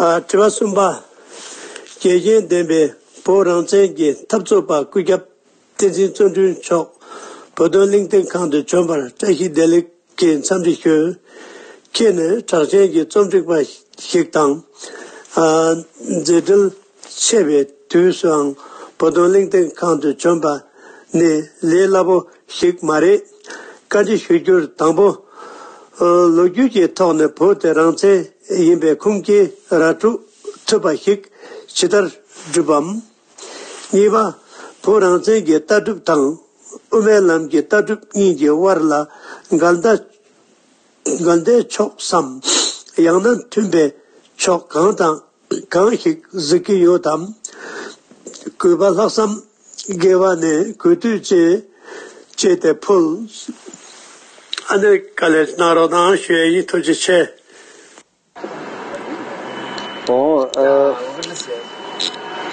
དྲི་བ་གསུམ་པ། རྒྱལ་གཅེས་ལྡན་པའི་བོད་རང་བཙན་གྱི་འཐབ་རྩོད་པ་སྐུ་ཞབས་བསྟན་འཛིན་བརྩོན་འགྲུས་མཆོག་བོད་དོན་གླིང་སྟེང་ཁང་དུ་བྱོན་པར་བཀྲ་ཤིས་བདེ་ལེགས་ཀྱི་འཚམས་འདྲི་ཞུ། ཁྱེད་ནི་གྲགས་ཅན་གྱི་རྩོམ་སྒྲིག་པ་ཞིག་དང། མཛད་འཕྲིན། ཆད་པའི་དུས་སུའང་བོ་དོང་གླིང་སྟེང་ཁང་དུ་བྱོན་པ་ནི་ལས་སླ་པོ་ཞིག་མ་རེད། བཀའ་འདྲི་ཞུ་རྒྱུར་དང་པོ། ལོ་རྒྱུས་ཀྱི་ཐོག་ནས་བོད་དེ་རང་བཙན་ཡིན་པའི་ཁུངས་སྐྱེལ་ར་སྤྲོད་ཐུབ་པ་ཞིག་ཇི་ལྟར་བསྒྲུབ་བམ། གཉིས་པ། བོད་རང་བཙན་གྱི་ལྟ་གྲུབ་དང་དབུ་མའི་ལམ་གྱི་ལྟ་གྲུབ་གཉིས་ཀྱི་དབར་ལ་འགལ་ཟླ་འགལ་ཟླའི་ཕྱོགས་སམ། ཡང་ན་མཐུན་པའི་ཕྱོགས་གང་དང་གང་ཞིག་གཟིགས་ཀྱི་ཡོད་དམ། གུས་པ་ལྷག་བསམ་དགེ་བ་ནི་གུས་བཏུད་ཅན། ཅེས་དེ་ཕུལ། ཨ་ནེ་ཀ་ལས་གནང་རོགས་གནང་ཞེས་དབྱིན་ཐུགས་རྗེ་ཆེ། ཨོ།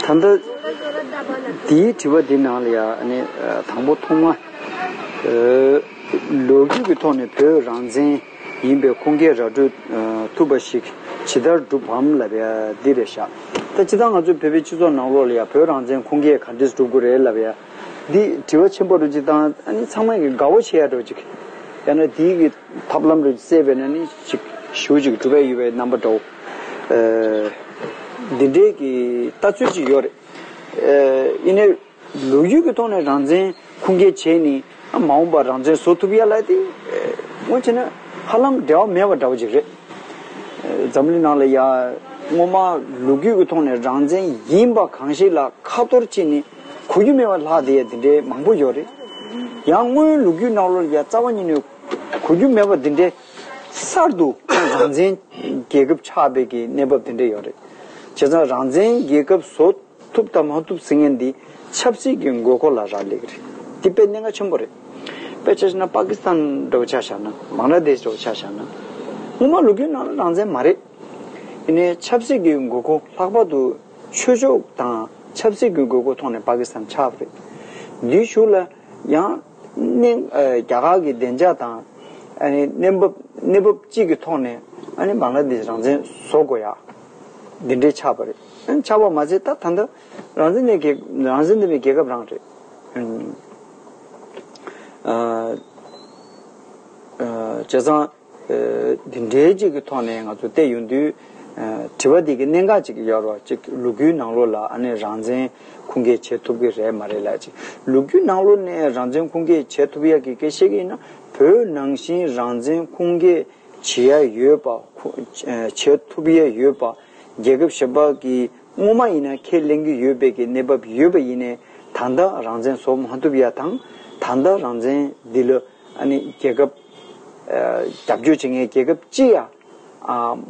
ད་ལྟ། དེའི་དྲི་བ་འདི་ནང་ལ་ཡང་དང་པོ་ཐོག་མ། ལོ་རྒྱུས་ཀྱི་ཐོག་ནས་བོད་རང་བཙན། ཡིན་པས་ཁོང་སྐད་ར་སྤྲོད་ཐུབ་པ་ཞིག་ཇི་ལྟར་བསྒྲུབ་བམ་ལབ་ཡ་འདི་རེད་ཤག་ད་ཅི་ད་ང་ཚོའི་བོད་པའི་སྤྱི་ཚོགས་ནང་ལོག་ལ་ཡ་བོད་རང་བཙན་ཁོང་སྐད་ག་འདྲས་སྒྲུབ་དགོས་རེད་ལབ་ཡ་འདི་དྲི་བ་ཆེན་པོ་རུ་ཅིག་བཏང་ཨ་ནི་ཚང་མ་གི་དགའ་བོ་བྱེད་ཡ་འགྲོ་ཅིག་ཡ་ན་དེའི་གི་ཐབས་ལམ་རུ་བཙལ་བས་ན་ནི་ཅིག་ཞུ་ཅིག་སྒྲུབ་ཡ་ཡོད་པའི་རྣམ་པ་འདྲ་བོ་འདི་འདྲས་གི་ལྟ་ཚུལ་ཅིག་ཡོད་རེད་ཨ་ཨེ་ནས། ལོ་རྒྱུས་ཀྱི་ཐོག་ནས་རང་བཙན་ཁུངས་སྐྱེལ་བྱས་ནས་མ་འོངས་པར་རང་བཙན་བཟོ་ཐུབ་ཡ་ལ་དེ་སྔོན་བྱས་ན་ཧ་ལམ་འབྲེལ་བ་མེད་པ་འདྲ་བོ་ཅིག་རེད། འཛམ་གླིང་ནང་ལ་ཡང་སྔོན་མ་ལོ་རྒྱུས་ཀྱི་ཐོག་ནས་རང་བཙན་ཡིན་པ་གང་ཞིག་ལ་ཁ་གཏོར་བཅིངས་ནས་གོ་རྒྱུ་མེད་པ་ལྷག་དེ་ཡང་དེ་འདྲའི་མང་པོ་ཡོད་རེད། ཡང་སྔོན་ལོ་རྒྱུས་ནང་ལོར་ཡང་རྩ་བ་ཉིད་ནས་གོ་རྒྱུ་མེད་པ་འདི་འདྲའི་གསར་དུ་རང་བཙན་རྒྱལ་ཁབ་ཆགས་པའི་གི་གནས་བབ་དེ་འདྲ་ཡོད་རེད། བྱས་ཙང་རང་བཙན་རྒྱལ་ཁབ་བཟོ། ཐུབ་དང་མ་ཐུབ་ཟེར་མཁན་འདི་ཆབ་སྲིད་ཀྱི་མགོ་སྐོར་ལ་རག་ལས་ཀྱི་རེད། འདི་དཔེ་གནད་འགག་ཆེན་པོ་རེད། དཔེ་ཆ་ཤི་ན་པ་ཀི་སི་ཐན་འདྲ་བོ་ཆགས་བཞག་ན་བང་ར་དེས་འདྲ་བོ་ཆགས་བཞག་ན། དངོས་མ་ལུགས་ཀྱི་ནང་ལ་རང་བཙན་མ་རེད། ཡིན་ནའི་ཆབ་སྲིད་ཀྱི་དགོས་མཁོ་ལྷག་པར་དུ་ཆོས་ཕྱོགས་དང་ཆབ་སྲིད་ཀྱི་དགོས་མཁོ་ཐོག་ནས་པ་ཀི་སི་ཐན་ཆགས་པ་རེད། འདིའི་གཞུག་ལ་ཡང་གནད་རྒྱ་གར་གྱི་བདེ་འཇགས་དང་གནས་བབ་གནས་བབ་གཅིག་གི་ཐོག་ནས་བང་ར་དེས་རང་བཙན་བཟོ་དགོས་ཡ། འདི་འདྲའི་ཆགས་པ་རེད། ཆགས་པ་མ་ཚད་ད་ད་འདི་རང་བཙན་ནས་གི་རང་བཙན་ནི་རྒྱལ་ཁབ་རང་རེད། བྱས་ཙང། འདི་འདྲའི་གཅིག་གི་ཐོག་ནས་ང་ཚོ་བལྟས་ཡོང་དུས། དྲི་བ་འདི་གི་གནད་འགག་གཅིག་ཡོད་རོགས་གཅིག་ལུ་གུའི་ནང་ལོ་ལ་ཨ་ནེ་རང་བཙན་ཁུངས་སྐྱེལ་བྱེད་ཐུབ་གི་རེད་མ་རེད་ལ་གཅིག་ལུ་གུའི་ནང་ལོ་ནས་རང་བཙན་ཁུངས་སྐྱེལ་བྱེད་ཐུབ་ཡག་གི་སྐད་བཤད་གི་ཡིན་ན་བོད་ནང་བཞིན་རང་བཙན་ཁུངས་སྐྱེལ། བྱེད་ཡ་ཡོད་པ། བྱེད་ཐུབ་ཡ་ཡོད་པ། རྒྱལ་ཁབ་གཞན་པ་གིས་སྔོན་མ་ཡིན་ན་ཁས་ལེན་གྱི་ཡོད་པའི་གི་གནས་བབ་ཡོད་པ་ཡིན་ནས་ད་ལྟ་རང་བཙན་བཟོ་མ་ཐུབ་ཡ་དང་ད་ལྟ་རང་བཙན་འདི་ལ་རྒྱལ་ཁབ་རྒྱབ་སྐྱོར་བྱེད་མཁན་རྒྱལ་ཁབ་ཅི་ཡ་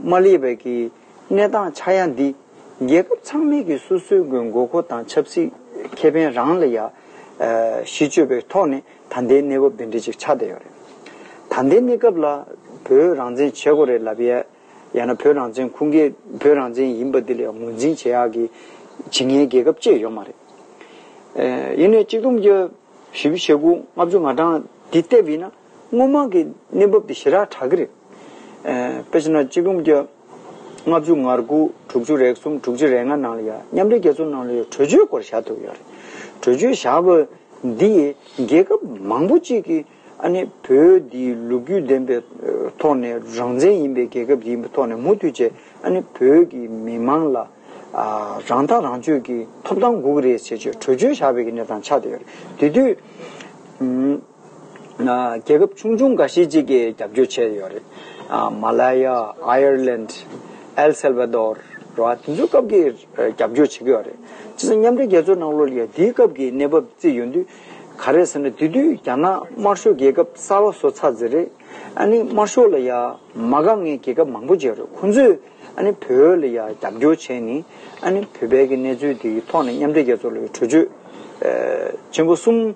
མ་སླེབས་པའི་གི་གནས་སྟངས་ཆགས་ཡ་འདི་རྒྱལ་ཁབ་ཚང་མས་གི་སོ་སོའི་གི་མགོ་མཁོ་དང་ཆབ་སྲིད་ཁེ་ཕན་རང་ལ་ཡ་གཞི་བཅོལ་བའི་ཐོག་ནས། ད་ལྟའི་གནས་བབ་འདི་འདྲའི་ཅིག་ཆགས་བསྡད་ཡོད་རེད། ད་ལྟའི་གནས་སྐབས་ལ་བོད་རང་བཙན་བྱེད་དགོས་རེད་ལབ་ཡས་ཡང་ན་བོད་རང་བཙན་ཁུངས་སྐྱེལ་བོད་རང་བཙན་ཡིན་པ་འདི་ལས་ངོས་འཛིན་བྱེད་ཡག་གི་ཇི་ངའི་རྒྱལ་ཁབ་བཅས་ཡོད་མ་རེད། ཡིན་ནའི་གཅིག་སྟོང་བརྒྱ་བཞི་བྱེད་དགུ་ལྔ་བཅུ་ང་གྲངས་འདི་བལྟས་པ་ཡིན་ན་དངོས་མང་གི་གནས་བབ་འདི་ཞི་རགས་དྲག་གི་རེད། དཔེར་བྱས་ན་གཅིག་སྟོང་བརྒྱ། ལྔ་བཅུ་ང་དགུ་དྲུག་ཅུ་རེ་གསུམ་དྲུག་ཅུ་རེ་ལྔ་ནང་ལ་ཡ་མཉམ་རེ་གྱ་ཚོ་ནང་ལ་ཡོད་གྲོས་ཆོད་སྐོར་བཞག་ཐུབ་ཡོད་རེད། གྲོས་ཆོད་བཞག་པ་འདི་ཡིས་རྒྱལ་ཁབ་མང་པོ་གཅིག་གིས་ཨ་ནི་བོད་འདི་ལུགས་རྒྱུས་ལྡན་པའི་ཐོག་ནས་རང་བཙན་ཡིན་པའི་རྒྱལ་ཁབ་ཅིག་ཡིན་པའི་ཐོག་ནས་མུ་མཐུད་བྱས་ཨ་ནི་བོད་ཀྱི་མི་དམངས་ལ་རང་ཐག་རང་གཅོད་ཀྱི་ཐོབ་ཐང་དགུག་རེ་བྱེད་ཆོད་གྲོས་ཆོད་བཞག་པའི་གི་ནས་དང་ཆ་དེ་ཡོད་རེད་དེ་དུས། རྒྱལ་ཁབ་ཆུང་ཆུང་འགའ་ཤས་ཅིག་གིས་རྒྱབ་སྐྱོར་བྱས་ཡོད་རེད། མ་ལ་ཡ། Ireland། El Salvador། ར་བ་དེ་ཚོའི་སྐབས་ཀྱི་རྒྱབ་སྐྱོར་བྱེད་ཀྱི་ཡོད་རེད། སྤྱིར་ས་མཉམ་འབྲེལ་རྒྱལ་ཚོགས་ནང་ལོ་ལེགས་དེའི་སྐབས་ཀྱི་གནས་བབ་བརྩིས་ཡོད་དུས། ག་རེད་ཟེར་ན་དེ་དུས་རྒྱ་ནག་དམར་ཤོག་རྒྱལ་ཁབ་གསར་བ་བཟོ་ཚར་ཟེར་རེད། ཨ་ནི་དམར་ཤོག་ལ་ཡ། མ་ག་ངའི་རྒྱལ་ཁབ་མང་པོ་བརྗེ་རེད་ཁོང་ཚོས་ཨ་ནི་བོད་ལ་ཡ་རྒྱབ་སྐྱོར་བྱས་ནི། ཨ་ནི་བོད་པའི་གི་གནས་ཚུལ་དེའི་ཐོག་ནས་མཉམ་འབྲེལ་རྒྱལ་ཚོགས་ལ་ཡོད་གྲོས་ཆོད། ཆེན་པོ་གསུམ།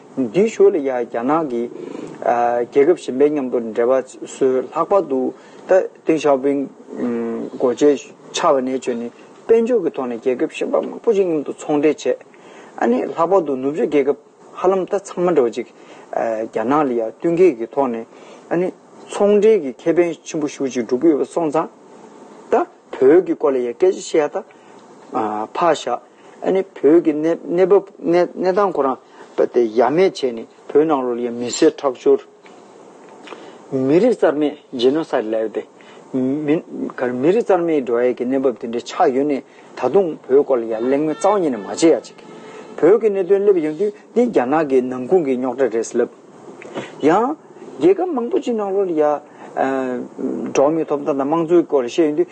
འདི་ཞོ་ལི་ཡ་རྒྱ་ནག་གི་རྒྱལ་ཁབ་གཞན་པའི་མཉམ་དུ་འབྲེལ་བ་བཟོས་ལྷག་པར་དུ་ཏིང་ཞའོ་ཕིང་འགོ་བྱས་ཕྱར་བ་ནས་བྱོན་ནས་དཔལ་འབྱོར་གྱི་ཐོག་ནས་རྒྱལ་ཁབ་གཞན་པ་མང་པོ་ཞིག་མཉམ་དུ་ཚོང་འབྲེལ་བྱས། ཨ་ནི་ལྷག་པར་དུ་ནུབ་ཕྱོགས་རྒྱལ་ཁབ་ཧ་ལམ་ད་ཚང་མ་འདྲ་བ་ཅིག་རྒྱ་ནག་ལི་ཡ་བསྟུན་མཁས་ཀྱི་ཐོག་ནས་ཨ་ནི་ཚོང་འབྲེལ་གྱི་ཁེ་ཕན་ཆེན་པོ་ཤུགས་ཅིག་སྒྲུབ་ཀྱི་ཡོད་པ་སོང་ཙང། ད་བོད་ཀྱི་སྐོར་ལ་ཡང་སྐད་ཆ་བཤད་ཡག་ད། ཕ་ཞག། ཨ་ནི་བོད་ཀྱི་གནས་བབ་གནས་སྟངས་ཁོ་རང་ཡ་མེད་བྱས་ནས་བོད་ནང་ལོགས་ཀྱི་མི་སེར་ཁྲག་སྦྱོར། མི་རིགས་རྩར་མེད Genocide ལས་ཏེ། མི་རིགས་རྩར་མེད་འགྲོ་ཡས་ཀྱི་གནས་བབ་དེ་འདྲའི་ཆགས་ཡོད་ནས་ད་དུང་བོད་སྐོར་ལ་ཡ་གླེང་མོལ་རྩ་བ་ཉིད་ནས་མ་བྱེད་ཡ་ཅིག་བོད་ཀྱི་གནད་དོན་སླེབས་ཡོང་དུས་འདི་རྒྱ་ནག་གི་ནང་ཁུང་གི་རྙོག་དྲ་རེད་ལབ། ཡང། རྒྱལ་ཁབ་མང་པོ་ཅིག་ནང་ལོགས་ལ་ཡ། འགྲོ་མི་ཐོབ་ཐང་དང་དམངས་གཙོའི་སྐོར་ལ་བཤད་ཡོང་དུས།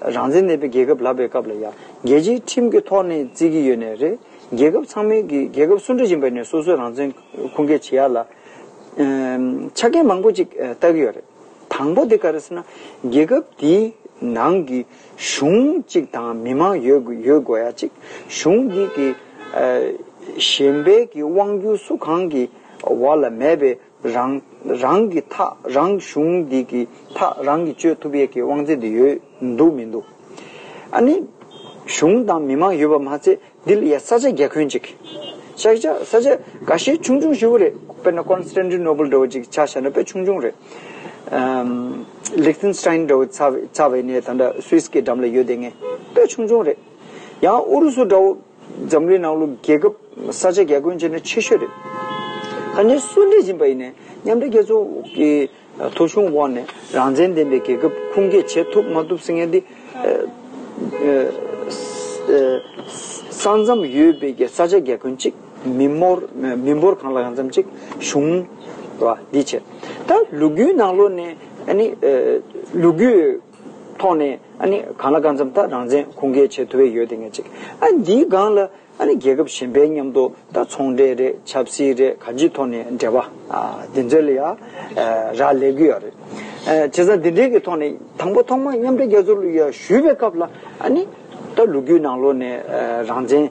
རང་བཙན་མེད་པའི་རྒྱལ་ཁབ་ལབ་པའི་སྐབས་ལ་ཡང་རྒྱལ་སྤྱིའི་ཁྲིམས་ཀྱི་ཐོག་ནས་བརྩི་གི་ཡོད་ནས་རེད། རྒྱལ་ཁབ་ཚང་མའི་གིས་རྒྱལ་ཁབ་སུ་འདྲ་ཡིན་པ་ནས་སོ་སོའི་རང་བཙན་ཁུངས་སྐྱེལ་བྱེད་ཡག་ལ། ཆ་རྐྱེན་མང་པོ་ཅིག་བལྟ་གི་ཡོད་རེད། དང་པོ་དེ་ག་རེ་ཟེར་ན། རྒྱལ་ཁབ་དེའི་ནང་གི་གཞུང་གཅིག་དང་མི་མང་ཡོད་དགོས་ཡ་གཅིག་གཞུང་དེ་གི་གཞན་པའི་གི་དབང་སྒྱུར་སུ་གང་གི་བར་ལ་མེད་པའི་རང། རང་གི་མཐའ་རང་གཞུང་འདི་གི་མཐའ་རང་གིས་གཅོད་ཐུབ་ཡས་ཀྱི་དབང་ཚད་དེ་ཡོད་འདུག་མི་འདུག་ཨ་ནི། གཞུང་དང་མི་མང་ཡོད་པ་མ་ཚད་འདི་ལ་ཡ་ས་ཆ་རྒྱ་ཁོན་ཅིག། ཤག་ཤག་ས་ཆ་ག་ཤེད་ཆུང་ཆུང་ཞིག་བུ་རེད་དཔེར་ན་ཀོན་སི་ཏན་ཏི་ནོ་བུལ་འདྲ་བོ་ཅིག་ཆགས་བཞག་ན་དཔེ་ཆུང་ཆུང་རེད། ལིག་ཏིན་སི་ཏན་འདྲ་བོ་ཚ་བས་ནས་ད་འདྲ་སུའི་སི་ཀའི་འགྲམ་ལ་ཡོད་དེ་ངས་དཔེ་ཆུང་ཆུང་རེད། ཡང་ཨུ་རུ་སུ་འདྲ་བོ། འཛམ་གླིང་ནང་ལོ་རྒྱལ་ཁབ་ས་ཆ་རྒྱ་ཀུན་ཆེ་ནས་ཆེ་ཤོས་རེད། ད་ནི་སུ་འདྲི་བཞིན་པ་ཡིན་ནས་མཉམ་འབྲེལ་རྒྱལ་ཚོགས་ཀྱི་ཐོ་གཞུང་འོག་ནས་རང་བཙན་ལྡན་པའི་རྒྱལ་ཁབ་ཁུངས་སྐྱེལ་བྱེད་ཐུབ་མ་ཐུབ་ཟེར་མཁན་འདི། ས་མཚམས་ཡོད་པའི་རྒྱལ་ས་ཆ་རྒྱ་ཀུན་གཅིག་མི་འབོར་མི་འབོར་གང་ལ་གང་འཚམ་གཅིག་གཞུང། བ་འདི་བྱེད། ད་ལུ་གུའི་ནང་ལོ་ནས་ཨ་ནི་ལུ་གུའི། ཐོག་ནས་ཨ་ནི་གང་ལ་གང་འཚམ་ད་རང་བཙན་ཁུངས་སྐྱེལ་བྱེད་ཐུབ་འི་ཡོད་དེ་ངས་ཅིག་ཨ་འདིའི་སྒང་ལ་ཨ་ནི་རྒྱལ་ཁབ་གཞན་པའི་མཉམ་དུ་ད་ཚོང་འབྲེལ་རེད་ཆབ་སྲིད་རེད་ག་ཅིའི་ཐོག་ནས་འབྲེལ་བ་འདི་ཚོའི་ལ་ཡ་ར་ལས་དགོས་ཡ་རེད་དེ་ཚ་འདི་འདྲའི་གི་ཐོག་ནས་དང་པོ་ཐོག་མ་མཉམ་འབྲེལ་རྒྱལ་ཚོགས་ལ་ཡ་ཞུས་པའི་སྐབས་ལ་ཨ་ནི་ད་ལུག་ཁྱུའི་ནང་ལོགས་ནས་རང་བཙན་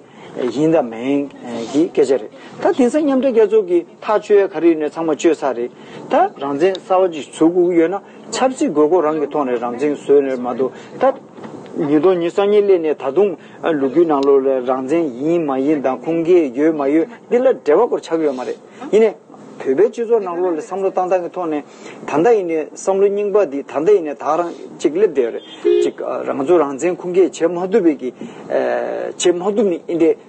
ཡིན་དང་མེན་གི་སྐད་ཆ་རེད་ད་དེང་སང་མཉམ་འབྲེལ་རྒྱལ་ཚོགས་གི་ཐག་གཅོད་ག་རེ་ཡོད་ནས་ཚང་མ་གཅོད་ས་རེད་ད་རང་བཙན་གསར་བ་ཅིག་ཚུགས་ཡོད་ན། ཆབ་སྲིད་དགོས་མཁོ་རང་གི་ཐོག་ནས་རང་བཙན་བཟོས་ནས་མ་འདུག་ད། ཉིས་སྟོང་ཉིས་གསང་གཉིས་སླེབས་ནས་ད་དུང་ལུ་གུའི་ནང་ལོགས་ལ་རང་བཙན་ཡིན་མ་ཡིན་དང་ཁུངས་སྐྱེལ་ཡོད་མ་ཡོད་འདི་ལ་འབྲེལ་བ་སྐོར་ཆགས་ཀྱི་ཡོད་མ་རེད། ཡིན་ནས། བོད་པའི་སྤྱི་ཚོགས་ནང་ལོགས་ལ་བསམ་བློ་བཏང་སྟངས་ཀྱི་ཐོག་ནས། ད་ལྟ་ཡིན་ནས་བསམ་བློ་རྙིང་པ་འདི་ད་ལྟ་ཡིན་ནས་དག་རང་ཅིག་སླེབས་བསྡད་ཡོད་རེད། གཅིག་རང་ཚོ་རང་བཙན་ཁུངས་སྐྱེལ་བྱེད་མ་ཐུབ་པའི་གི། བྱེད་མ་ཐུབ་ནི་ཨི་འདྲའི།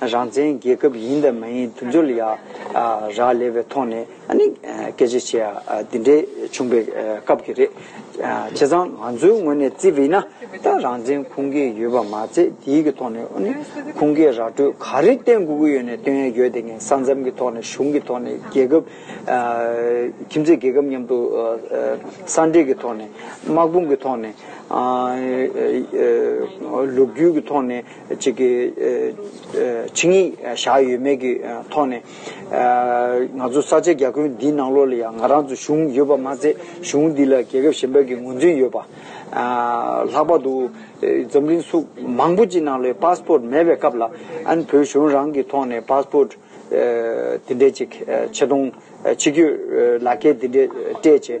རང་བཙན་རྒྱལ་ཁབ་ཡིན་དང་མ་ཡིན་དུ་འཇོག་ལ་ཡ་རགས་ལས་པའི་ཐོག་ནས་སྐད་ཆ་བཤད་ཡ་འདི་འདྲའི་བྱུང་པའི་སྐབས་ཀྱི་རེད། བྱས་ཙང་ང་ཚོའི་ངོས་ནས་བརྩིས་པ་ཡིན་ན་ད་རང་བཙན་ཁུངས་སྐྱེལ་ཡོད་པ་མ་ཚད་དེའི་གི་ཐོག་ནས་ཁུངས་སྐྱེལ་ར་སྤྲོད་ག་རེ་བསྟན་དགོས་ཀྱི་ཡོད་ནས་བསྟོན་ཡ་ཡོད་དེ་ངས་ས་མཚམས་ཀྱི་ཐོག་ནས་གཞུང་གི་ཐོག་ནས་རྒྱལ་ཁབ་ཁྱིམ་མཚེས་རྒྱལ་ཁབ་མཉམ་དུ་ས་འབྲེལ་གྱི་ཐོག་ནས་དམག་དཔུང་གི་ཐོག་ནས་ལུགས་རྒྱུས་ཀྱི་ཐོག་ནས། ཅིག་གི་ཆིངས་ཡིག་བཞག་ཡོད་མེད་ཀྱི་ཐོག་ནས། ང་ཚོ་ས་ཆའི་རྒྱ་ཁྱོན་འདིའི་ནང་ལོགས་ལ་ཡང་ང་རང་ཚོ་གཞུང་ཡོད་པ་མ་ཟད་གཞུང་འདི་ལ་རྒྱལ་ཁབ་གཞན་པ་ཀྱི་ངོས་འཛིན་ཡོད་པ། ལྷག་པར་དུ་འཛམ་གླིང་སུག་མང་པོ་ཅིག་ནང་ལོའི Passport མེད་པའི་སྐབས་ལ་ཨན་བོད་གཞུང་རང་གི་ཐོག་ནས Passport དེ་འདྲས་ཅིག་ཆེ་མཐོང་ཆེ་བསྐྱོད་ལག་ཁྱེར་དེ་འདྲས་སྤྲད་རྗེས་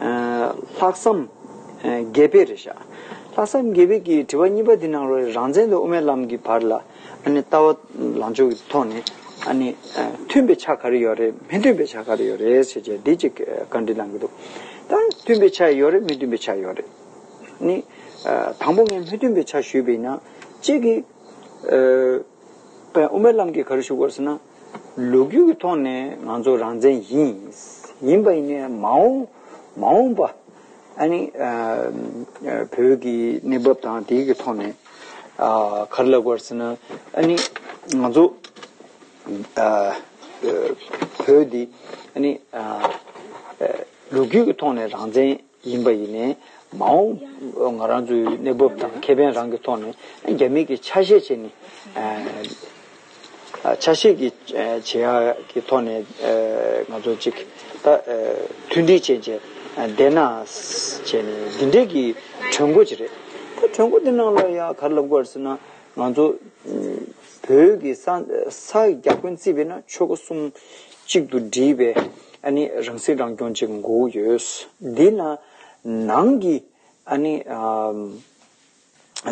ལྷག་བསམ་དགེ་བེད་རེད་ཤག། ལྷག་བསམ་དགེ་བེད་ཀྱིས་དྲི་བ་གཉིས་པ་འདི་ནང་རོགས་རེད་རང་བཙན་དང་དབུ་མའི་ལམ་གྱི་བར་ལ་ཨ་ནི་ལྟ་བ་ལངས་ཕྱོགས་ཀྱི་ཐོག་ནས་ཨ་ནི་མཐུན་པའི་ཆ་ག་རེ་ཡོད་རེད་མི་མཐུན་པའི་ཆ་ག་རེ་ཡོད་རེད་ཟེར་བྱས་འདི་གཅིག་བཀའ་འདྲི་གནང་གི་འདུག་ད་མཐུན་པའི་ཆ་ཡོད་རེད་མི་མཐུན་པའི་ཆ་ཡོད་རེད་ནི། དང་པོ་ངས་མི་མཐུན་པའི་ཆ་ཞུས་པ་ཡིན་ན་གཅིག་གིས་དབུ་མའི་ལམ་གྱི་ག་རེ་ཞུ་དགོས་ཟེར་ན། ལོ་རྒྱུས་ཀྱི་ཐོག་ནས་ང་ཚོ་རང་བཙན་ཡིན། ཡིན་པ་ཡིན་ནའི་མ་འོངས་མ་འོངས་པ་ཨ་ནི་བོད་ཀྱི་གནས་བབ་དང་དེའི་གི་ཐོག་ནས་ག་རེ་ལབ་དགོས་ཟེར་ན་ཨ་ནི་ང་ཚོ་བོད་འདི་ཨ་ནི་ལོ་རྒྱུས་ཀྱི་ཐོག་ནས་རང་བཙན། ཡིན་པ་ཡིན་ནས། མ་འོངས་ང་རང་ཚོའི་གནས་བབ་དང་ཁེ་ཕན་རང་གི་ཐོག་ནས་རྒྱ་མིས་ཀྱི་ཆ་ཤས་བྱས་ནས། ཆ་ཤས་ཀྱི་བྱེད་ཡག་གི་ཐོག་ནས་ང་ཚོ་གཅིག་ད་མཐུན་སྒྲིལ་བྱས་རྗེས་བསྡད་ན། བྱས་ནས་འདི་འདྲས་ཀྱི་གྲོས་འགོ་ཅིག་རེད། གྲོས་འགོ་འདི་ནང་ལ་ཡང་ག་རེ་ལབ་དགོས་ཟེར་ན། ང་ཚོ། བོད་ཀྱི་ས་རྒྱ་དགོན་རྩིས་པས་ན་ཆོས་སྒོ་གསུམ་གཅིག་ཏུ་སྒྲིལ་བའི་རང་སྲིད་རང་སྐྱོང་ཅིག་མགོ་བོ་ཡོད། འདི་ལ་ནང་གི་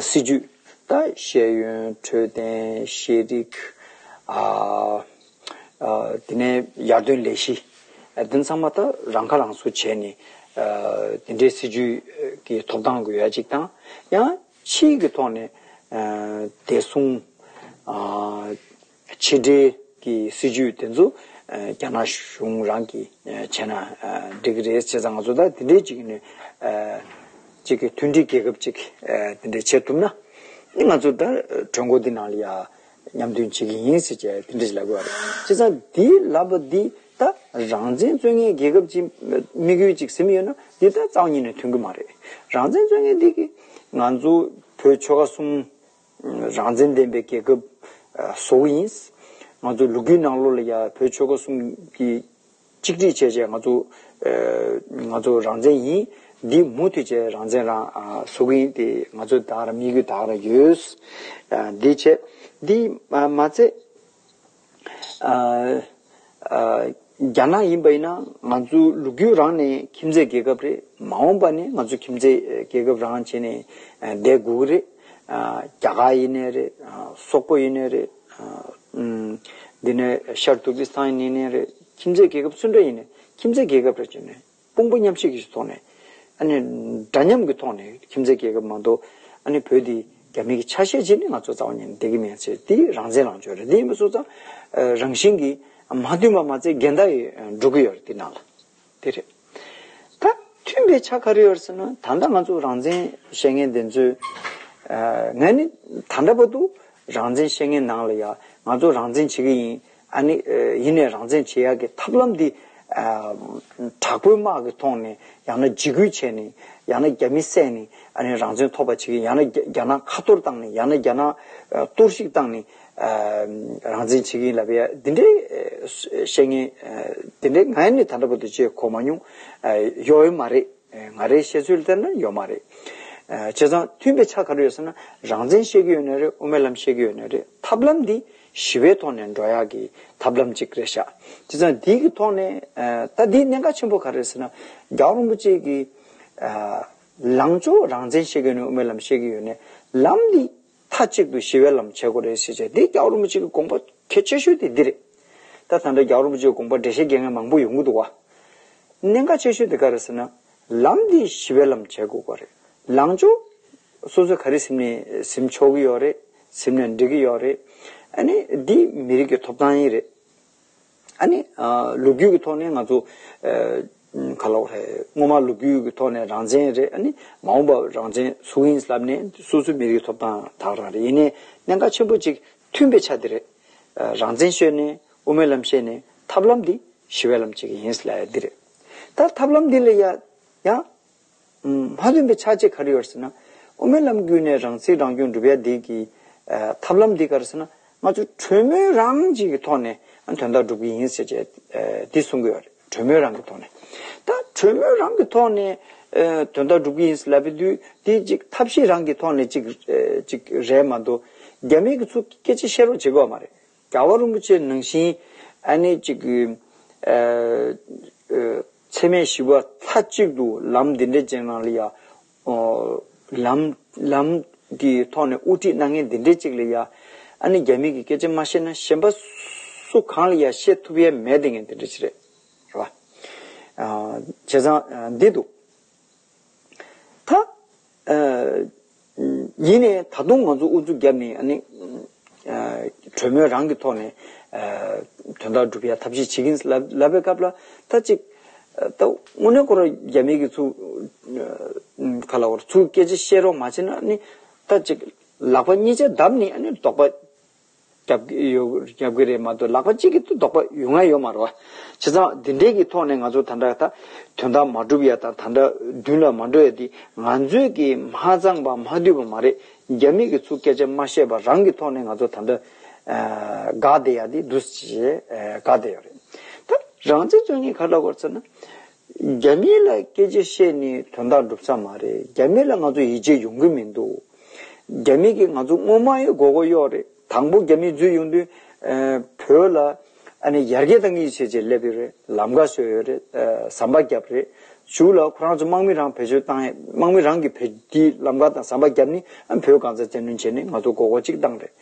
སྲིད་ཇུས་དང་ཤེས་ཡོན་འཕྲོད་བསྟེན་ཤེས་རིག། དེ་ནས་ཡར་ཐོན་ལས་གཞི་དེ་ཚང་མ་ད་རང་ཁ་རང་གསོ་བྱས་ནས་དེ་འདྲའི་སྲིད་ཇུས་ཀྱི་ཐོབ་ཐང་དགོས་ཡ་གཅིག་དང་ཡང། ཆིངས་ཀྱི་ཐོག་ནས་བདེ་སྲུང། ཕྱི་འབྲེལ་གྱི་སྲིད་ཇུས་དེ་ཚོ་རྒྱ་ནག་གཞུང་རང་གིས་བྱས་ན་འགྲིག་གི་རེད། བྱས་ཙང་ང་ཚོ་ད་དེ་འདྲའི་ཅིག་ནས་ཅིག་གི་མཐུན་སྒྲིལ་རྒྱལ་ཁབ་ཅིག་དེ་འདྲས་བྱེད་ཐུབ་ན། ང་ཚོ་ད་གྲོས་འགོ་འདི་ནང་ལ་ཡང་མཉམ་འདུན་བྱེད་ཀྱི་ཡིན་ཟེར་བྱས་དེ་འདྲས་ལབ་དགོས་པ་རེད། བྱས་ཙང་དེའི་ལབ་པ་འདི། ད་རང་བཙན་རྩོད་མཁན་རྒྱལ་ཁབ་ཀྱིས་དམིགས་ཡུལ་གཅིག་ཟིན་ཡོད་ན་འདི་ལྟར་རྩ་བ་ཉིད་ནས་མཐུན་གྱི་མ་རེད། རང་བཙན་རྩོད་མཁན་དེ་གིས་ང་ཚོ་བོད་ཆོལ་ཁ་གསུམ་རང་བཙན་ལྡན་པའི་རྒྱལ་ཁབ་བཟོ་གི་ཡིན། ང་ཚོ་ལུག་ཁྱུའི་ནང་ལོགས་ལ་ཡང་བོད་ཆོལ་ཁ་གསུམ་གྱིས་གཅིག་སྒྲིལ་བྱས་བྱས་ང་ཚོ་ང་ཚོ་རང་བཙན་ཡིན། འདི་མུ་མཐུད་བྱས་རང་བཙན་རང་བཟོ་གི་ཡིན་དེ་ང་ཚོ་དག་ར་དམིགས་ཡུལ་དག་ར་ཡོད། འདི་བྱས་འདི་མ་བྱས། རྒྱ་ནག་ཡིན་པ་ཡིན་ན་ང་ཚོའི་ལུགས་རྒྱུད་རང་ནས་ཁྱིམ་མཚེས་རྒྱལ་ཁབ་རེད། མ་འོངས་པ་ནས་ང་ཚོའི་ཁྱིམ་མཚེས་རྒྱལ་ཁབ་རང་བྱས་ནས་བསྡད་དགོས་ཀྱི་རེད། རྒྱ་གར་ཡིན་ནའི་རེད། སོག་པོ་ཡིན་ནའི་རེད། འདི་ནས་ཤར་ཏུར་ཀི་སི་ཐན་ཡིན་ནའི་རེད། ཁྱིམ་མཚེས་རྒྱལ་ཁབ་སུ་འདྲ་ཡིན་ནའི་ཁྱིམ་མཚེས་རྒྱལ་ཁབ་རེད་བྱས་ནས་དཔུང་པོ་མཉམ་གཤིབ་ཀྱི་ཐོག་ནས། འདྲ་མཉམ་གྱི་ཐོག་ནས་ཁྱིམ་མཚེས་རྒྱལ་ཁབ་མང་དུ། བོད་འདི་རྒྱ་མི་གྱི་ཆ་ཤས་ཅིག་ནི་ང་ཚོ་རྩ་བ་ཉིད་ནས་བདེ་གི་མེད་ཚེ་དེ་རང་བཙན་ལངས་ཕྱོགས་རེད་དེ་ཡིན་པ་སོགས་ཙང། རང་བཞིན་གྱིས་མ་མཐུན་པ་མ་ཚད་འགལ་ཟླ་ཡི་འགྲོ་གི་ཡོད་རེད་དེ་ནང་ལ། དེ་རེད། ད་མཐུན་པའི་ཆ་ག་རེ་ཡོད་ཟེར་ན་ད་ལྟ་ང་ཚོ་རང་བཙན་བཤད་མཁན་དེ་ཚོས། ང་ནི་ད་འདྲ་པ་དུ་རང་བཙན་བཤད་མཁན་ནང་ལ་ཡང་ང་ཚོ་རང་བཙན་བྱེད་ཀྱི་ཡིན། ཨ་ནི། ཡིན་ནས་རང་བཙན་བྱེད་ཡག་གི་ཐབས་ལམ་འདི། དྲག་པོའི་དམག་གི་ཐོག་ནས་ཡང་ན་འཇིགས་སྐུལ་བྱས་ནས། ཡང་ན་རྒྱ་མི་བསད་ནས་ཨ་ནི་རང་བཙན་ཐོབ་པ་བྱེད་གི་ཡང་ན་རྒྱ་ནག་ཁ་གཏོར་བཏང་ནས་ཡང་ན་རྒྱ་ནག་གཏོར་བཤིག་བཏང་ནས། རང་བཙན་བྱེད་གི་ལབ་པ་ཡ་འདི་འདྲའི་བཤད་ངན། འདི་འདྲའི་ང་ནི་ད་ལྟ་བུ་དེ་བྱེད་གོ་མ་མྱོང། ཡོའི་མ་རེད་ང་རེའི་བཤད་ཚུལ་ལྟར་ན་ཡོའི་མ་རེད། བྱས་ཙང་མཐུན་པའི་ཆ་ག་རེ་ཡོད་ཟེར་ན་རང་བཙན་བཤད་གི་ཡོད་ནི་རེད་དབུ་མའི་ལམ་བཤད་གི་ཡོད་ནི་རེད་ཐབས་ལམ་འདི། ཞི་བའི་ཐོག་ནས་འགྲོ་ཡག་གི་ཐབས་ལམ་ཅིག་རེད་ཤག་དེ་ཚང་དེའི་གི་ཐོག་ནས་ད་དེའི་གནད་འགག་ཆེན་པོ་ག་རེད་ཟེར་ན་རྒྱ་བོ་རིན་པོ་ཆེ་གི་ལངས་ཕྱོགས་རང་བཙན་བཤད་གི་ནས་དབུ་མའི་ལམ་བཤད་གི་ཡོད་ནས་ལམ་འདི་མཐའ་གཅིག་ཏུ་ཞི་བའི་ལམ་བྱེད་དགོས་རེད་ཟེར་བྱས་དེ་རྒྱ་བོ་རིན་པོ་ཆེ་གི་དགོངས་པ་གལ་ཆེ་ཤོས་དེ་འདི་རེད་ད་ད་འདྲ་རྒྱ་བོ་རིན་པོ་ཆེ་གི་དགོངས་པ་འགྲེལ་བཤད་དགོས་ངེས་མང་པོ་ཡོད་འགུ་འདུག་བ། གནད་འགག་ཆེ་ཤོས་དེ་ག་རེད་ཟེར་ན་ལམ་འདི་ཞི་བའི་ལམ་བྱེད་དགོས་པ་རེད། ལངས་ཕྱོགས། སོ་སོས་ག་རེ་སེམས་ནས་སེམས་ཆོག་གི་ཡོད་རེད། སེམས་ནས་འབྲི་གི་ཡོད་རེད། ཨ་ནི་འདི་མི་རིགས་ཀྱི་ཐོབ་ཐང་ཡིན་རེད། ཨ་ནི། ལོ་རྒྱུས་ཀྱི་ཐོག་ནས་ང་ཚོ། ག་ལོག་རེད། སྔོན་མ་ལོ་རྒྱུས་ཀྱི་ཐོག་ནས་རང་བཙན་རེད་ཨ་ནི། མ་འོངས་པ་རང་བཙན་སུ་ཡིན་ལབ་ནས་སོ་སོའི་མི་རིགས་ཀྱི་ཐོབ་ཐང་དག་རང་རེད་ཡིན་ནས་གནད་འགག་ཆེན་པོ་གཅིག་མཐུན་པའི་ཆ་འདི་རེད། རང་བཙན་ཤོད་ནས་དབུ་མའི་ལམ་ཤེས་ནས་ཐབས་ལམ་འདི་ཞི་བའི་ལམ་བྱེད་ཀྱི་ཡིན་ལ་འདི་རེད། ད་ཐབས་ལམ་འདི་ལ་ཡང། མ་བཏོན་པའི་ཆ་བྱད་ག་རེ་ཡོད་ཟེར་ན། དབུ་མའི་ལམ་བརྒྱུད་ནས་རང་ཚིག་རང་སྐྱོང་སྒྲུབ་ཡ་དེ་གི། ཐབས་ལམ་འདི་ག་རེ་ཟེར་ན། ང་ཚོ་གྲོས་མོལ་རང་གཅིག་གི་ཐོག་ནས་དོན་དག་སྒྲུབ་གི་ཡིན་ཟེར་བྱས། དེ་གསུང་གི་ཡོད་རེད་གྲོས་མོལ་རང་གི་ཐོག་ནས། ད་གྲོས་མོལ་རང་གི་ཐོག་ནས། དོན་དག་སྒྲུབ་གི་ཡིན་ཟེར་ལབ་པའི་དུས་དེ་གཅིག་ཐབས་ཤེས་རང་གི་ཐོག་ནས་གཅིག། རེད་མ་གཏོགས་རྒྱ་མིའི་གི་ཚུལ་སྐད་ཆ་བཤད་རོགས་བྱེད་དགོས་པ་མ་རེད། རྒྱལ་བ་རིན་པོ་ཆེ་ནང་བཞིན་ཨ་ནེ་གཅིག་གི། འཚེ་མེད་ཞི་བ་མཐའ་གཅིག་ཏུ་ལམ་འདི་འདྲའི་ཅན་ནང་ལ་ཡ། ལམ། ལམ། གི་ཐོག་ནས་དབུ་ཁྲིད་གནང་མཁན་འདི་འདྲའི་ཅིག་ལ་ཡ། ཨ་ནེ་རྒྱ་མི་གི་སྐད་ཆ་མ་ཤེས་ན་གཞན་པ། སུ་གང་ལ་ཡ་བཤད་ཐུབ་ཡ་མེད་ལྡེ་ངས་འདི་འདྲ་ཅིག་རེད། རེད་བ། བྱས་ཙང་འདི་འདུག། ད། ཉིད་ནས་ད་དུང་ང་ཚོ་ཨུ་ཚུགས་བརྒྱབ་ནས་གྲོས་མོལ་རང་གི་ཐོག་ནས་དོན་དག་སྒྲུབ་ཡ་ཐབས་ཤེས་བྱེད་ཀྱིན་ལབ་པའི་སྐབས་ལ་ད་ཅིག་དངོས་གནས་ཁོ་རང་རྒྱ་མི་གི་ཚུ་ག་ལ་བར་ཚུ་སྐད་ཆ་བཤད་རོགས་མ་བྱེད་ན་ད་ཅིག་ལག་པ་གཉིས་ཆ་བརྡབ་ནས་དོགས་པ། རྒྱབ་གི་རེད་མ་གཏོགས་ལག་པ་གཅིག་གིས་ལྡོག་པ་ཡུལ་ང་ཡོད་མ་རོ། བྱས་ཙང་འདི་འདྲའི་གི་ཐོག་ནས་ང་ཚོ་ད་འདྲ་ད་དོན་དག་མ་སྒྲུབ་ཡ་དང་ད་འདྲ་མདུན་ལ་མ་འགྲོ་ཡ་འདི་ང་ཚོས་གི་མ་ཚང་པ་མ་འདུས་པ་མ་རེད་རྒྱ་མི་གི་ཚུ་སྐད་ཆ་མ་བཤད་པ་རང་གི་ཐོག་ནས་ང་ཚོ་ད་འདྲ་དགའ་བདེ་ཡ་འདི་འདུག་ཅེས་དགའ་བདེ་ཡོད་རེད། ད་རང་བཙན་བརྩོད་ངས་ག་ལ་བར་ཚེ་ན། རྒྱ་མི་ལ་སྐད་ཆ་བཤད་ནས་དོན་དག་འགྲུབ་ས་མ་རེད་རྒྱ་མི་ལ་ང་ཚོ་ཡིད་ཆེས་ཡོང་གི་མི་འདུག་རྒྱ་མི་གིས་ང་ཚོ་དངོས་མང་ཡི་མགོ་གོ་གཡོག་རེད་དང་པོ་རྒྱ་མི་འཛུལ་ཡོང་དུས་བོད་ལ་ཨ་ནི་ཡར་རྒྱས་དང་ཡིད་ཆེས་བྱེད་སླེབས་ཡོད་རེད་ལམ་ཀ་བཟོས་ཡོད་རེད་ཟམ་པ་བརྒྱབ་རེད་བཞུགས་ལ་ཁོ་རང་ཚོ་དམག་མི་རང་བེད་སྤྱོད་བཏང་དམག་མི་རང་གིས་བོད་ཀྱི་ལམ་ཀ་དང་ཟམ་པ་བརྒྱབ་ནི་ཨ་ནི་བོད་གང་ས་རྩེ་འདོན་བྱེད་ནི་ང་ཚོ་མགོ་གོ་གཅིག་བཏང་རེད་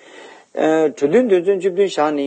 གྲོས་མཐུན་དོན་ཚན་བཅུ་བདུན་བཞག་ནི་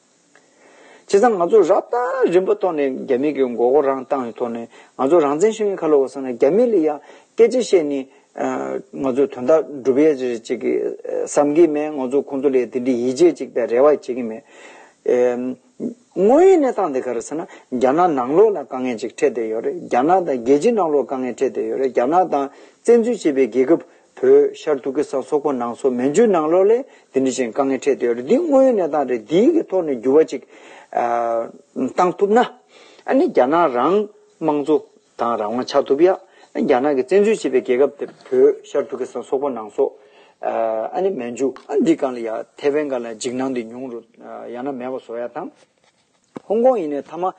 བྱས་ཙང་ང་ཚོ་རབ་དང་རིམ་པ་ཐོག་ནས་རྒྱ་མི་གི་མགོ་སྐོར་རང་བཏང་བའི་ཐོག་ནས་ང་ཚོ་རང་བཙན་ཤེས་ཡོན་ཁ་ལོ་བ་བསགས་ན་རྒྱ་མི་ལ་ཡང་སྐད་ཆ་བཤད་ནས་ང་ཚོའི་དོན་དག་སྒྲུབ་ཡས་ཅིག་རེད་ཅིག་བསམ་གི་མེད་ང་ཚོ་ཁོང་ཚོ་ལས་དེ་འདྲི་ཡིད་ཆེས་ཅིག་དང་རེ་བ་བྱེད་ཀྱི་མེད། དངོས་ཡོད་གནས་སྟངས་དེ་ག་རེ་ཟེར་ན་རྒྱ་ནག་ནང་ལོགས་ལ་དཀའ་ངལ་ཅིག་འཕྲད་བསྡད་ཡོད་རེད་རྒྱ་ནག་དང་རྒྱལ་སྤྱི་ནང་ལོགས་དཀའ་ངལ་འཕྲད་བསྡད་ཡོད་རེད་རྒྱ་ནག་དང་བཙན་འཛུལ་བྱས་པའི་རྒྱལ་ཁབ་བོད་ཤར་ཏུར་ཀི་སཱན་སོག་པོ་ནང་སོག་མན་ཇུའི་ནང་ལོགས་ལས་དེ་འདྲི་ཅན་དཀའ་ངལ་འཕྲད་དུ་ཡོད་རེད་འདི་དངོས་ཡོད་གནས་སྟངས་རེད་འདིའི་གི་ཐོག་ནས་འགྱུར་བ་ཅིག་བཏང་ཐུབ་ན་ཨ་ནི་རྒྱ་ནག་རང་དམངས་གཙོ་དང་རང་དབང་ཆགས་ཐུབ་ཡ་ཨ་རྒྱ་ནག་གི་བཙན་འཛུལ་བྱས་པའི་རྒྱལ་ཁབ་དེ་བོད་ཤར་ཏུར་ཀི་སཱན་སོག་པོ་ནང་སོག་ཨ་ནི་མན་ཇུ་ཨ་འདི་གང་ལ་ཡ་ཐེ་ཝན་གང་ལ་ཡ་འཇིགས་སྣང་འདི་མྱོང་རུ་ཡ་ན་མེད་པ་བཟོ་ཡ་དང། ཧོང་ཀོང་ཡིན་ནའི་མཐའ་མ།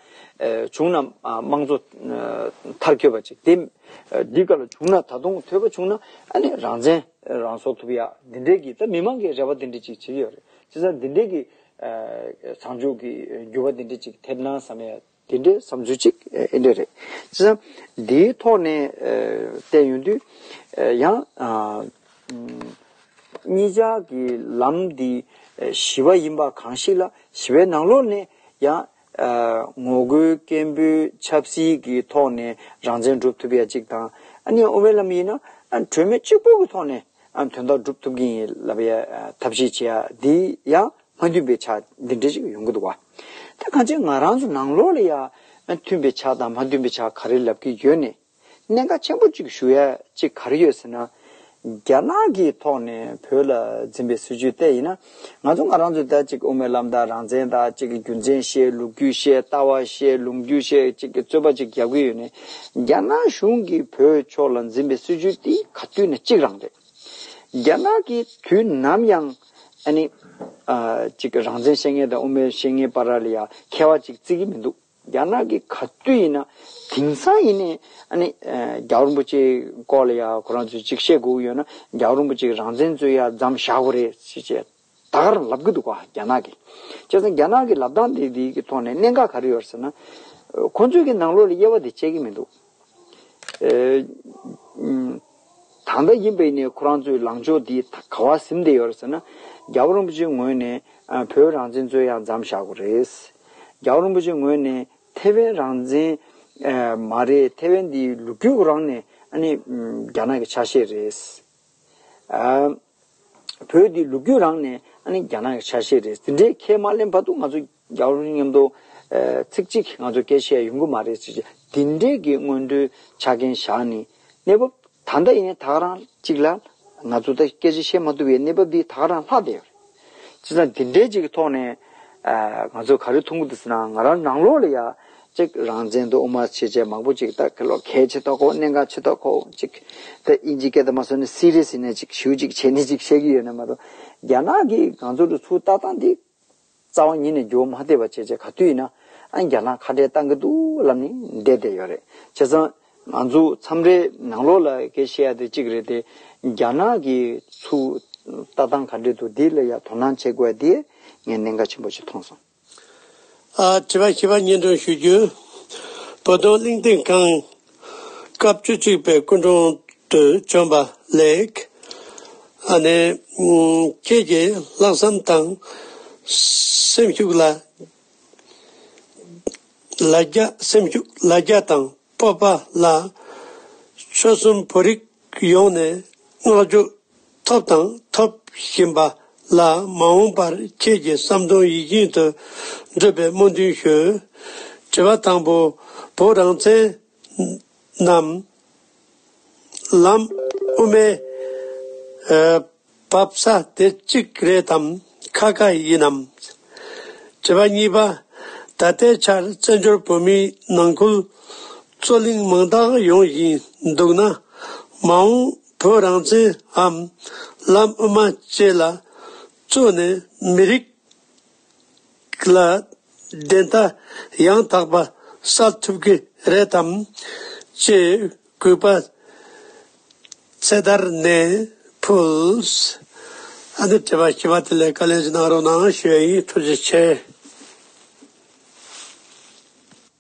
བྱུང་ན་དམངས་གཙོ་མཐར་སྐྱོད་པ་ཅིག་དེ། འདི་ག་ལ་བྱུང་ན་ད་དུང་ཐོས་པ་བྱུང་ན་ཨ་ནི་རང་བཙན་རང་བཟོ་ཐུབ་ཡ་འདི་འདྲའི་གི་ད་མི་མང་གི་རེ་བ་འདི་འདྲི་ཅིག་བྱེད་ཀྱི་ཡོད་རེད་བྱས་ཙང་འདི་འདྲའི་གི། བཟང་ཕྱོགས་གི་འགྱུར་བ་འདི་འདྲི་ཅིག་ཐེབས་ན་བསམ་ཡ། འདི་འདྲའི་བསམ་ཚུལ་ཅིག་ཨེ་འདྲ་རེད། བྱས་ཙང་འདིའི་ཐོག་ནས་བལྟས་ཡོང་དུས། ཡང། གཉིས་ཆ་གི་ལམ་འདི་ཞི་བ་ཡིན་པ་གང་ཞིག་ལ་ཞི་བའི་ནང་ལོགས་ནས་ཡང། ངོ་རྒོལ་སྐད་འབོད་ཆབ་སྲིད་ཀྱི་ཐོག་ནས་རང་བཙན་སྒྲུབ་ཐུབ་ཡ་གཅིག་དང། གཉིས་དབུ་མའི་ལམ་ཡིན་ན་གྲོས་མོལ་གཅིག་པུ་གི་ཐོག་ནས་དོན་དག་སྒྲུབ་ཐུབ་ཀྱིན་ཡིན་ལབ་ཡ་ཐབས་ཤེས་བྱེད་ཡ་འདི་ཡང་མ་མཐུན་པའི་ཆ་འདི་འདྲ་ཞིག་ཡོང་གི་འདུག་བ། དེ་གང་ཅིག་ང་རང་ཚོ་ནང་ལོགས་ལ་ཡང་མཐུན་པའི་ཆ་དང་མ་མཐུན་པའི་ཆ་ག་རེ་ལབ་ཀྱི་ཡོད་ནས། གནད་འགག་ཆེན་པོ་གཅིག་ཞུ་ཡ་གཅིག་ག་རེ་ཡོད་ཟེར་ན། རྒྱ་ནག་གི་ཐོག་ནས་བོད་ལ་འཛིན་པའི་སྲིད་བྱུས་ལྟས་ཡིན་ན། ང་ཚོ་ང་རང་ཚོའི་ད་ཅིག་དབུ་མའི་ལམ་དང་རང་བཙན་དང་ཅིག་རྒྱུ་མཚན་བཤད་ལུགས་རྒྱུ་བཤད་ལྟ་བ་བཤད་ལུང་རྒྱུ་བཤད་ཅིག་གི་རྩོད་པ་ཅིག་རྒྱག་གི་ཡོད་ནས། རྒྱ་ནག་གཞུང་གི་བོད་ཕྱོགས་ལ་འཛིན་པའི་སྲིད་བྱུས་དེ་ག་དུས་ནས་གཅིག་རང་རེད། རྒྱ་ནག་གི་དུས་ནམ་ཡང་ཨ་ནི། ཅིག་རང་བཙན་བཤད་མཁན་དང་དབུ་མའི་བཤད་མཁན་བར་ལ་ཡ་མཁས་བ་ཅིག་བརྩི་གི་མི་འདུག། རྒྱ་ནག་གི་ག་དུས་ཡིན་ན་དེང་སང་ཡིན་ནའི་ཨ་ནི་རྒྱ་བོ་རིན་པོ་ཆེའི་སྐོར་ལ་ཡ་ཁོ་རང་ཚོས་ཅིག་བཤད་དགོས་ཀྱི་ཡོད་ན་རྒྱ་བོ་རིན་པོ་ཆེ་རང་བཙན་རྩོད་ཡ་རྫམ་བཞག་དགོས་རེད་ཅེས་བྱས་ད་ག་རང་ལབ་ཀྱི་འདུག་ག་རྒྱ་ནག་གི། བྱས་ཙང་རྒྱ་ནག་གི་ལབ་སྟངས་དེ་དེའི་གི་ཐོག་ནས་གནད་འགག་ག་རེ་ཡོད་རེད་ཟེར་ན། ཁོ་ཚོས་གི་ནང་ལོགས་ལ་དབྱེ་བ་དེ་བྱེད་ཀྱི་མི་འདུག། གང་འདྲ་ཡིན་པས་ནས་ཁོ་རང་ཚོའི་ལངས་ཕྱོགས་འདི་ག་བར་སིམ་བསྡད་ཡོད་ཟེར་ན། རྒྱ་བོད་རིན་པོ་ཆེའི་ངོས་ནས་བོད་རང་བཙན་རྩོད་ཡག་འཇམ་བཞག་དགོས་རེད། རྒྱ་བོད་རིན་པོ་ཆེའི་ངོས་ནས་ཐེ་ཝན་རང་བཙན་མ་རེད་ཐེ་ཝན་འདི་ལུག་ཁྱུ་ཁོ་རང་ནས་རྒྱ་ནག་གི་ཆ་ཤས་རེད། བོད་འདི་ལུག་ཁྱུ་རང་ནས་རྒྱ་ནག་གི་ཆ་ཤས་རེད་འདི་འདྲའི་ཁས་མ་ལེན་བར་དུ་ང་ཚོ་རྒྱ་རུ་སྙམ་དུ། ཚིག་གཅིག་ང་ཚོ་སྐད་བཤད་ཡོང་གི་མ་རེད་ཅེས་དེ་འབྲེལ་གྱི་སྔོན་འགྲོའི་ཆ་རྐྱེན་བཞག་ནས། གནས་བབ་ད་ལྟ་ཡང་དག་རང་གཅིག་ལ། ང་ཚོ་ད་སྐད་ཆ་བཤད་མ་ཐུབ་པའི་གནས་བབ་འདི་དག་རང་ལྷག་བསྡད་ཡོད་རེད། བྱས་ཙང་དེ་འབྲེལ་གཅིག་གི་ཐོག་ནས། ང་ཚོས་ག་རེ་ཐུག་འདུག་ཟེར་ན་ང་རང་རང་ལོགས་ལ་ཡང། གཅིག་རང་བཙན་དུ་དབུ་མ་ཆེ་ཆེ་མང་པོ་ཅིག་ད་ག་ལོག་གལ་ཆེ་ཐོག་ཁོག་གནད་འགག་ཆེ་ཐོག་ཁོག་ཅིག། ད་དབྱིན་ཇིའི་སྐད་དུ་མ་ཟོས་ན་སི་རེ་ཟི་ནས་ཅིག་ཞུ་ཅིག་བྱས་ནས་ཅིག་བཤད་ཀྱི་ཡོད་ནི་མ་གཏོགས། རྒྱ་ནག་གིས་ང་ཚོ་ལ་ཚུར་ལྟ་སྟངས་འདི། རྩ་བ་ཉིད་ནས་རྒྱུ་བ་མ་བསྟེར་བར་བྱས་རྗེས་ག་དུས་ཡིན་ན་ཨ་མྱེ་རྒྱ་ལྷ་ཁ་བྲལ་བཏང་གི་འདུག་ལབ་ནས་བསྡད་བསྡད་ཡོད་རེད་བྱས་ཙང། ང་ཚོ་མཚམས་རེ་ནང་ལོག་ལ་གེ་ཤེས་ཡ་དེ་གཅིག་རེད་དེ། རྒྱ་ནག་གི་ཚུ་ལྟ་སྟངས་ག་འདྲེ་འདུག་དེ་ལ་ཡ་དོ་སྣང་བྱེད་དགོས་ཡ་དེ་ངས་གནད་འགག་ཆེན་པོ་ཞིག་མཐོང་སོང། ཨ་བྱེས་པ་ཤེས་པ་སྙན་སྒྲོན་ཞུ་རྒྱུ། བོ་དོང་གླིང་སྟེང་ཁང་སྐབས་བཅུ་གཅིག་པའི་སྐུ་འཁྲུངས་དུས་བྱོན་པ་ལེགས། ཨ་ནེ། ཁྱེད་ཀྱི་ལྷག་བསམ་དང་སེམས་ཤུགས་ལ་རྒྱ་སེམས་ཤུགས་ལ་རྒྱ་དང་སྤོབས་པ་ལ་ཆོལ་གསུམ་བོད་རིགས་ཡོངས་ནས་བསྔགས་བརྗོད་ཐོབ་དང་འཐོབ་བཞིན་པ་ལ་མ་འོངས་པར་ཁྱེད་ཀྱི་བསམ་དོན་ཡིད་བཞིན་དུ་འགྲུབ་པའི་སྨོན་འདུན་ཞུ། དྲི་བ་དང་པོ། བོད་རང་བཙན་ནམ། ལམ་དབུ་མའི། བབ་ས་དེ་གཅིག་རེད་དམ་ཁ་ཁ་ཡིན་ནམ། དྲི་བ་གཉིས་པ། ད་ལྟའི་ཆར་བཙན་བྱོལ་བོད་མིའི་ནང་ཁུལ་རྩོད་གླེང་མང་དག་ཡོང་བཞིན་འདུག་ན། མ་འོངས་བོད་རང་བཙན་འམ་ལམ་དབུ་མ་བཅས་ལ་རྩོད་ནས་མི་རིགས་ལ་བདེན་མཐའ་ཡང་དག་པ་གསལ་ཐུབ་ཀྱི་རེད་དམ། ཅེས་གུས་པ་ཚེ་དར་ནས་ཕུལ། ཨ་ནི་དྲི་བ་བྱས་པ་དེ་ལས་བཀའ་ལན་ཅིག་གནང་རོགས་གནང་ཞུ་ཡ་ཡིན་ཐུགས་རྗེ་ཆེ།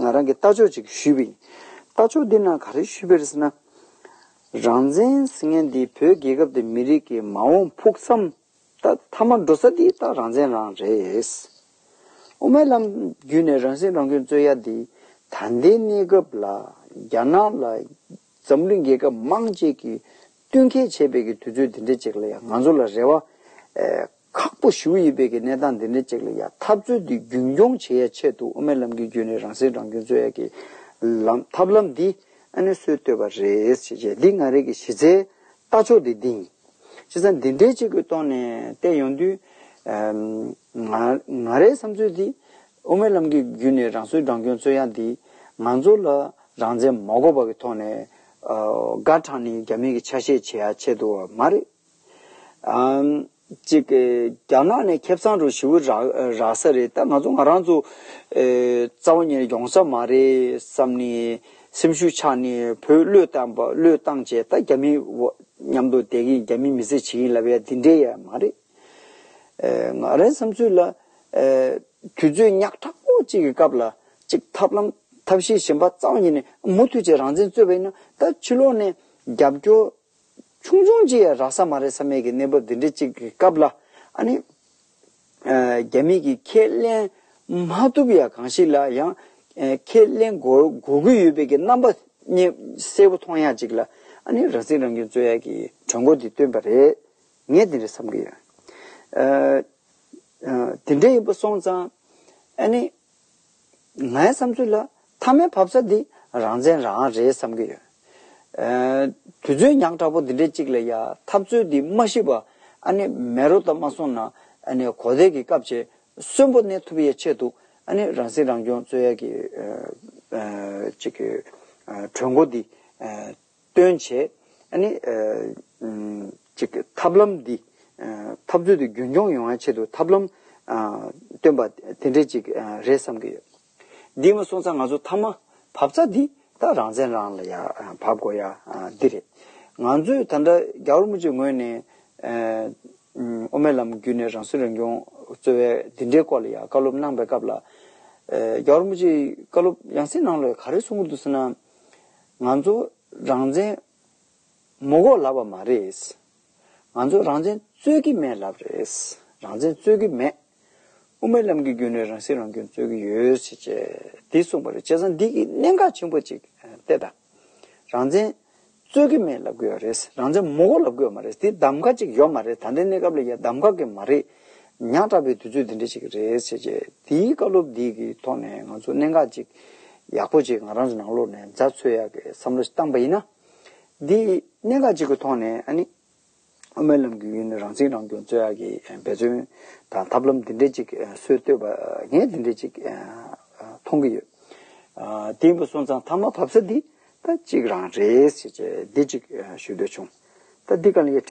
ང་རང་གིས་ལྟ་ཕྱོགས་ཅིག་ཞུས་པ་ཡིན། ལྟ་ཕྱོགས་འདི་ནང་ག་རེ་ཞུས་པ་རེད་ཟེར་ན། རང་བཙན་ཟེར་མཁན་འདི་བོད་རྒྱལ་ཁབ་དེ་མི་རིགས་ཀྱི་མ་འོངས་ཕུགས་བསམ་ད་མཐའ་མར་འགྲོ་ས་འདི་ད་རང་བཙན་རང་རེད། དབུ་མའི་ལམ་བརྒྱུད་ནས་རང་སྲིད་རང་སྐྱོང་རྩོད་ཡ་འདི་ད་ལྟའི་གནས་སྐབས་ལ་རྒྱ་ནག་ལ་འཛམ་གླིང་རྒྱལ་ཁབ་མང་བཅས་ཀྱིས་བསྟུན་མཁས་བྱེད་པའི་གི་དུས་ཚོད་འདི་འདྲའི་ཅིག་ལ་ཡང་ང་ཚོ་ལ་རེ་བ། ཁག་པོ་ཞུ་ཡི་པའི་གི་གནས་སྟངས་འདི་འདྲའི་ཅིག་ལ་ཡང་འཐབ་རྩོད་འདི་རྒྱུན་འཁྱོང་བྱེད་ཡ་ཆེད་དུ་དབུ་མའི་ལམ་གི་རྒྱུན་ནས་རང་སྲེག་རང་སྐྱོན་རྩོད་ཡ་གི་ལམ་ཐབས་ལམ་འདི་ཨ་ནུས་སྲོལ་བཏོད་པ་རེད་བྱས་རྗེས་འདི་ང་རིགས་ཀྱི་གཞི་རྩའི་ལྟ་ཕྱོགས་འདི་འདིང། བྱས་ཙང་འདི་འདྲའི་ཅིག་གི་ཐོག་ནས་བལྟས་ཡོང་དུས། ང་རའི་བསམ་ཚུལ་འདི་དབུ་མའི་ལམ་གི་རྒྱུན་ནས་རང་སྲོལ་རང་སྐྱོན་རྩོད་ཡ་འདི་ང་ཚོ་ལ་རང་བཙན་མ་གོ་བ་གི་ཐོག་ནས་སྒ་དྲང་ནི་རྒྱ་མི་གི་ཆ་ཤས་ཆེ་ཡ་ཆེ་འདུག་བ་མ་རེད། ཅིག་རྒྱ་ནག་ནས་ཁེབས་ཚང་རུ་ཞི་བུ་རགས་ས་རེད་ད་ང་ཚོ་ང་རང་ཚོ་རྩ་བ་ཉེར་ཡོང་ས་མ་རེད་བསམ་ནི་སེམས་ཤུགས་ཆག་ནི་བོད་བློས་བཏང་བ་བློས་བཏང་བྱས་ད་རྒྱ་མི་མཉམ་དུ་བསྡད་གིན་རྒྱ་མི་མི་ཚེ་བྱེད་གིན་ལབ་ཡ་འདི་འདྲའི་ཡ་མ་རེད། ང་རའི་བསམ་ཚུལ་ལ། དུས་ཚོད་ཉག་ཕྲ་པོ་གཅིག་གི་སྐབས་ལ་གཅིག་ཐབས་ལམ་ཐབས་ཤེས་གཞན་པ་རྩ་བ་ཉིད་ནས་མུ་མཐུད་ཅིག་རང་བཙན་རྩོད་པ་ཡིན་ན་ད་ཕྱི་ལོག་ནས་རྒྱབ་སྐྱོར་ཆུང་ཆུང་གཅིག་ཡང་རག་ས་མ་རེད་ས་མེད་ཀྱི་གནས་བབ་འདི་འདྲ་གཅིག་གི་སྐབས་ལ་ཨ་ནི། རྒྱ་མིས་ཀྱིས་ཁས་ལེན་མ་ཐུབ་ཡ་གང་ཞིག་ལ་ཡང་ཁས་ལེན་དགོས་དགོས་ཀྱི་ཡོད་པའི་ཀྱི་རྣམ་པ་གསལ་པོ་མཐོང་ཡ་གཅིག་ལ་ཨ་ནི་རང་སྲིད་རང་སྐྱོང་རྩོད་ཡ་གྱི་གྲོས་འགོ་འདི་བཏོན་པ་རེད། ངས་དེ་འདྲ་བསམ་གྱི་ཡོད། དེ་འདྲ་ཡིན་པ་སོང་ཙང། ཨ་ནི། ངའི་བསམ་ཚུལ་ལ་མཐའ་མའི་བབ་ས་འདི་རང་བཙན་རང་རེད་བསམ་གྱི་ཡོད། དུས་ཚོད་ཉག་ཕྲ་པོ་འདི་འདྲའི་གཅིག་ལ་ཡ་འཐབ་རྩོད་འདི་མ་ཤི་བ་ཨ་ནི་མེ་རོ་ལྟར་མ་སོང་ན་ཨ་ནི་གོ་བདེ་གི་སྐབས་བྱེད་གསོན་པོ་གནས་ཐུབ་ཡས་ཆེད་དུ་ཨ་ནི་རང་སྲིད་རང་སྐྱོང་རྩོད་ཡས་གི་གཅིག་གི་གྲོས་འགོ་འདི་སྟོན་བྱེད། གཅིག། ཐབས་ལམ་འདི། འཐབ་རྩོད་དུ་རྒྱུན་འཁྱོངས་ཡོང་བའི་ཆེད་དུ་ཐབས་ལམ། སྟོན་པ། དེ་འདྲའི་གཅིག་རེད་བསམ་གྱི་ཡོད། འདིའི་མ་སོང་ཙང་ང་ཚོ་མཐའ་མ། བབ་རྩ་འདི། ད་རང་བཙན་རང་ལ་ཡ། བབ་དགོས་ཡ། འདི་རེད། ང་ཚོས་ད་འདྲ་རྒྱ་དབར་མུ་ཅེ་ངོས་ནས། དབུ་མའི་ལམ་བརྒྱུད་ནས་རང་སྲིད་རང་སྐྱོང། རྩོད་བའི་འདི་འདྲའི་སྐོར་ལ་ཡ་བཀའ་སློབ་གནང་པའི་སྐབས་ལ། རྒྱ་དབར་མུ་ཅེ་བཀའ་སློབ་ཡང་སྲིད་ནང་ལོས་ག་རེ་གསུང་གི་འདུག་ཟེར་ན། ང་ཚོ་རང་བཙན་མོ་གོ་ལབ་པ་མ་རེད། ང་ཚོ་རང་བཙན་རྩོད་ཀྱི་མེད་ལབ་རེད། རང་བཙན་རྩོད་ཀྱི་མེད། དབུ་མའི་ལམ་གྱི་རྒྱུན་ནས་རང་སྲིད་རང་སྐྱོང་རྩོད་ཀྱི་ཡོད། དེ་གསུངས་པ་རེད། བྱས་ཙང་འདི་གཉིས་གནད་འགག་ཆེན་པོ་གཅིག་སྟེ་ད། རང་བཙན་རྩོད་ཀྱི་མེད་ལབ་དགོས་པ་རེད། རང་བཙན་མོ་གོ་ལབ་དགོས་པ་མ་རེད། དེ་གདམ་ག་གཅིག་ཡོད་མ་རེད། ད་ལྟའི་གནས་སྐབས་ལ་ཡང་གདམ་ག་གི་མ་རེད། ཉག་ཕྲ་བའི་དུས་ཚོད་འདི་འདྲ་ཞིག་རེད་ཟེར་རྗེས་དེའི་བཀའ་སློབ་འདི་གི་ཐོག་ནས་ང་ཚོ་གནད་འགག་ཅིག་ཡག་པོ་ཅིག་ང་རང་ཚོའི་ནང་ལོག་ནས་འཛའ་འཚོལ་ཡག་གི་བསམ་བློ་ཞིག་བཏང་པ་ཡིན་ན། འདི་གནད་འགག་ཅིག་གི་ཐོག་ནས་ཨ་ནི། དབུ་མའི་ལམ་གྱི་ཡུལ་ནས་རང་ཚིག་རང་སྐྱོང་རྩོད་ཡག་གི་འབད་བརྩོན་དང་ཐབས་ལམ་འདི་འདྲ་ཅིག་སྲོལ་བཏོད་པ་ངས་འདི་འདྲ་ཅིག་མཐོང་གི་ཡོད། དེ་ཡིན་པ་སོང་ཙང་མཐའ་མ་བབ་ས་འདི་ད་ཅིག་རང་རེད་ཟེར་རྗེས་འདི་ཅིག་ཞུ་འདོད་བྱུང། ད་འདི་ག་ལ་ཡིན།